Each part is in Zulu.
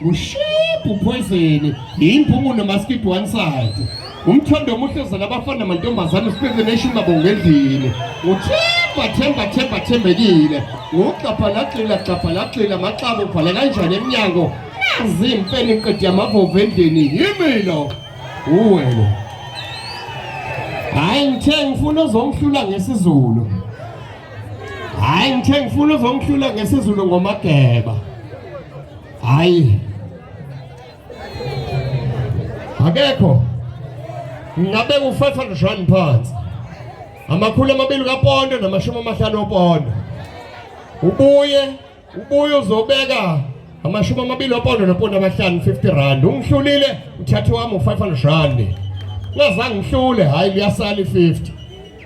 ushiphu phoyizeni yimpumuno maskid one side umthondo omuhle uzala abafana namantombazane usipeze neshumi abonga endlini uthemba themba themba thembekile ngugxabha lagxila gxabha lagxila maxaba ubhala kanjani emnyango nazi impeni qedi yamavovu endlini yimilo uwelo hhayi ngithe ngifuna uzongihlula ngesizulu hhayi ngithe ngifuna uzongihlula ngesizulu ngomageba Hayi. Akekho. Ngabe u 500 rand phansi. Amakhulu amabili kapondo namashumi amahlanu opondo. Ubuye, ubuye uzobeka amashumi amabili opondo nopondo amahlanu 50 rand. Ungihlulile uthathe wami u 500 rand. Ngazange ngihlule, hayi liyasala i 50.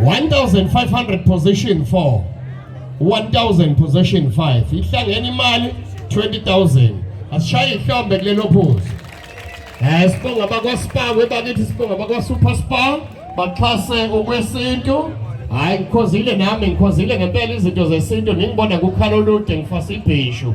1500 position 4 1000 position 5 ihlangene imali 20000 asishaye ihlombe kulelo phuzu eh sibonga bakwaSpa kwebakithi sibonga bakwaSuper Spa baxhase ukwesintu hayi ngikhozile nami ngikhozile ngempela izinto zesintu ningibona kukhala olude ngifasa ibhishu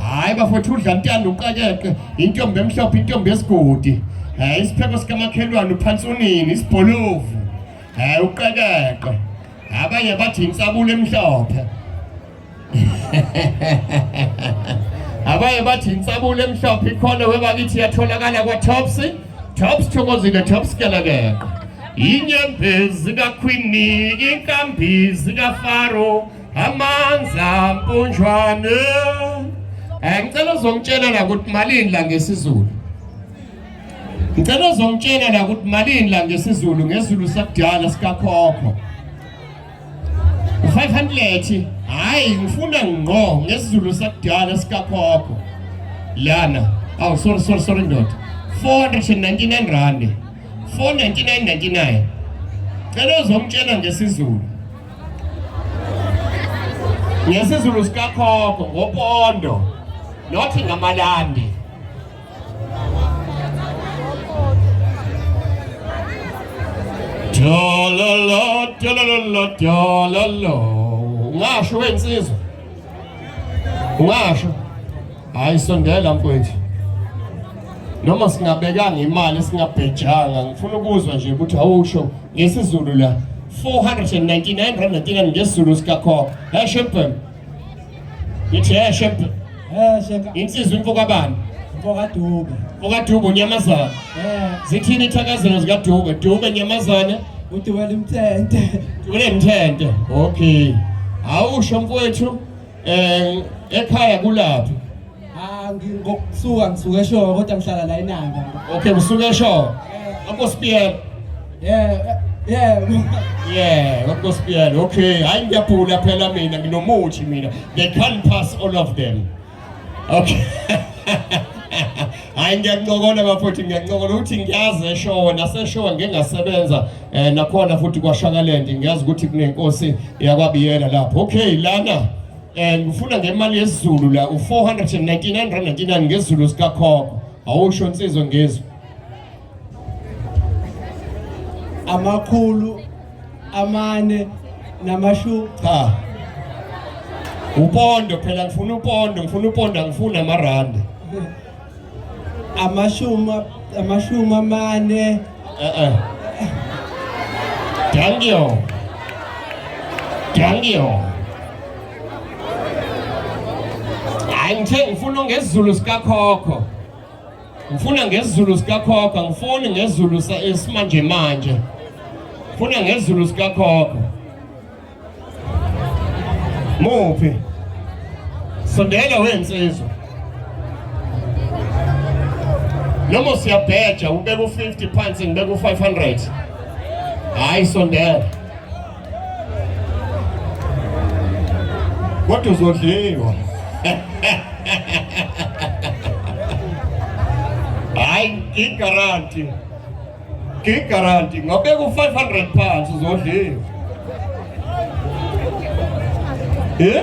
hayi bafowethu udla ntanda uqakeqe intombi emhlophe intombi yesigodi um isipheko sikamakhelwane uphansi unini isibholovu um uqekeqe abanye bathi insabulo emhlophe abanye bathi insabulo emhlophe ikhona webakithi yatholakala kwa-tops tops thokozile tops kelekeqe inyembezi kakhwini inkambizi kafaro Amanza mpunjwane. Eh ngicela uzongitshela la ukuthi malini la ngesizulu. Ngicela uzongitshela la ukuthi malini la ngesizulu ngezulu sakudala sikakhokho. 500 hayi ngifuna ngqo ngesizulu sakudala sikakhokho. Lana. Oh sorry sorry sorry ndoda. 499 rand. 499.99. Cela uzongitshela ngesizulu. ngesizulu sikakhokho ngopondo nothi ngamalandi Dololo, dololo, dololo. Ngasho wensizwa. Ungasho hayi sondela mfowethu. Noma singabekanga imali singabhejanga ngifuna ukuzwa nje ukuthi awusho ngesizulu la 499 rand natina ngesizulu sikakho. Hey shempem. Yithi hey shempem. Eh sheka. Insizwa imfo kabani? Imfo kaDube. Imfo kaDube unyamazana. Eh. Zithini ithakazelo zikaDube? Dube nyamazana. Uthi wena imthente. Kule mthente. Okay. Awusho mfowethu eh ekhaya kulaphi? Ah ngingokusuka ngisuke eshoyo kodwa ngihlala la eNanda. Okay usuke eshoyo. Akho spiyela. Yeah. Yeah. Yeah, akho spiyela. Okay, hayi ngiyabhula phela mina nginomuthi mina. They can't pass all of them. okay hayi ngiyancokola bafowethu ngiyancokola ukuthi ngiyazi eshowe naseshowe ngike ngasebenza um nakhona futhi kwashakaland ngiyazi ukuthi kunenkosi yakwabiyela lapho okay lana um ngifuna ngemali yesizulu la u-499 rand 99 ngezulu sikakhokho awusho nsizwe ngezulu amakhulu amane namashu cha upondo phela ngifuna upondo ngifuna upondo angifuni amarandi amashumi amashumi amane eh eh thank you thank you hayi ngithe ngifuna ngesiZulu sikakhokho ngifuna ngesizulu sikakhokho ngifuni ngesizulu esimanje manje ngifuna ngesizulu sikakhokho muphi sondela wensizwa noma siyabheja ubeka u-50 phansi ngibeka u-500 hayi sondela Kodwa uzodliwa. Hayi igaranti. Igaranti ngabeka u500 pounds uzodliwa. Eh?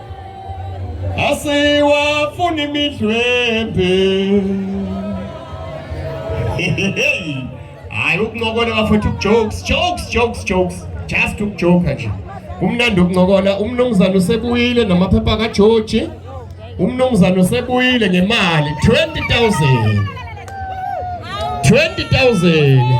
asiwafuni imidlwembe hayi ukuncokola bafethu ukujokes jokes jokes jokes just ukujoka nje kumnandi ukuncokola umnumzane usebuyile namaphepha kajoji umnumzane usebuyile ngemali 20000 20000